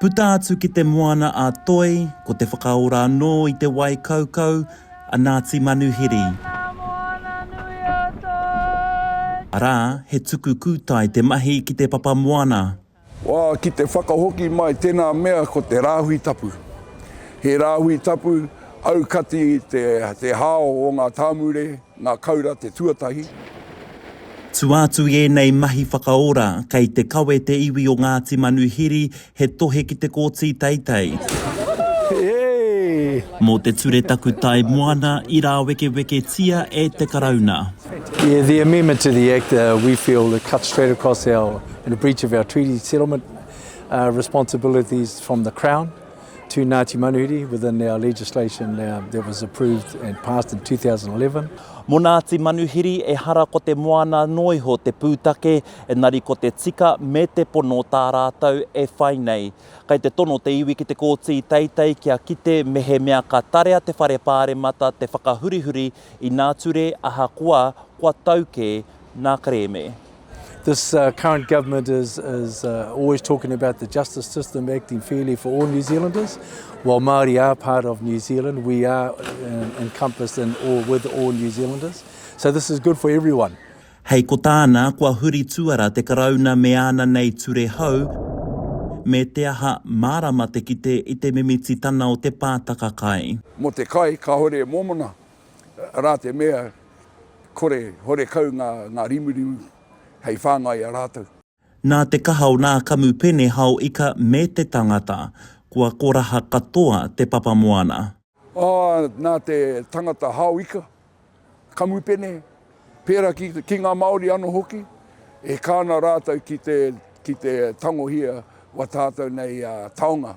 Puta atu ki te moana a Toi, ko te whakaora anō i te wai kaukau a Ngāti Manuhiri. Arā, he tuku kūtai te mahi ki te papa moana. Wā, ki te whakahoki mai tēnā mea ko te rāhui tapu. He rāhui tapu aukati te hao o ngā tāmure, Ngā Kaura te tuatahi. Tua atu i ēnei mahi whakaora, kei te kawe te iwi o Ngāti Manuhiri he tohe ki te kōti teitei. Mō te ture takutai moana i rāwekeweketia e te Karauna. Yeah, the amendment to the Act, we feel it cuts straight across our, in a breach of our treaty settlement responsibilities from the Crown. to Ngāti Manuhiri within our legislation uh, that was approved and passed in 2011. Mo Ngāti Manuhiri, ehara ko te moana noa iho te pūtake, engari ko te tika me te pono tā rātou e whai nei. Kei te tono te iwi ki te kōti teitei kia kite mehemea ka tarea te whare pāremata te whakahurihuri inā ture ahakoa kua tau kē ngā kerēme. This uh, current government is, is uh, always talking about the justice system acting fairly for all New Zealanders. While Māori are part of New Zealand, we are uh, encompassed in all, with all New Zealanders. So this is good for everyone. Hei ko tāna, kua huri tuara te karauna me āna nei ture hou, me te aha mārama te kite i te mimititana o te pātaka kai. Mo te kai, kāore e mōmona, Arā te mea, kore, horekau ngā, ngā rimurimu hei whāngai i a rātou. Nā te kaha o nā kamupene hao ika me te tangata, kua koraha katoa te papa moana. Ā, nā te tangata hao ika, kamupene, pērā ki, ki ngā Māori anō hoki, e kā ana rātou ki te, ki te tangohia o a tātou nei taonga.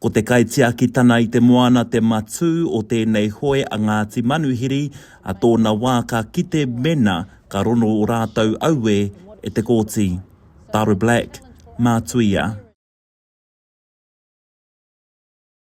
Ko te kaitiakitana i te moana te matū o tēnei hoe a Ngāti Manuhiri, a tōna wā ka kite mena ka rono o rātou auē e te Kōti. Tara Black, Mātuia.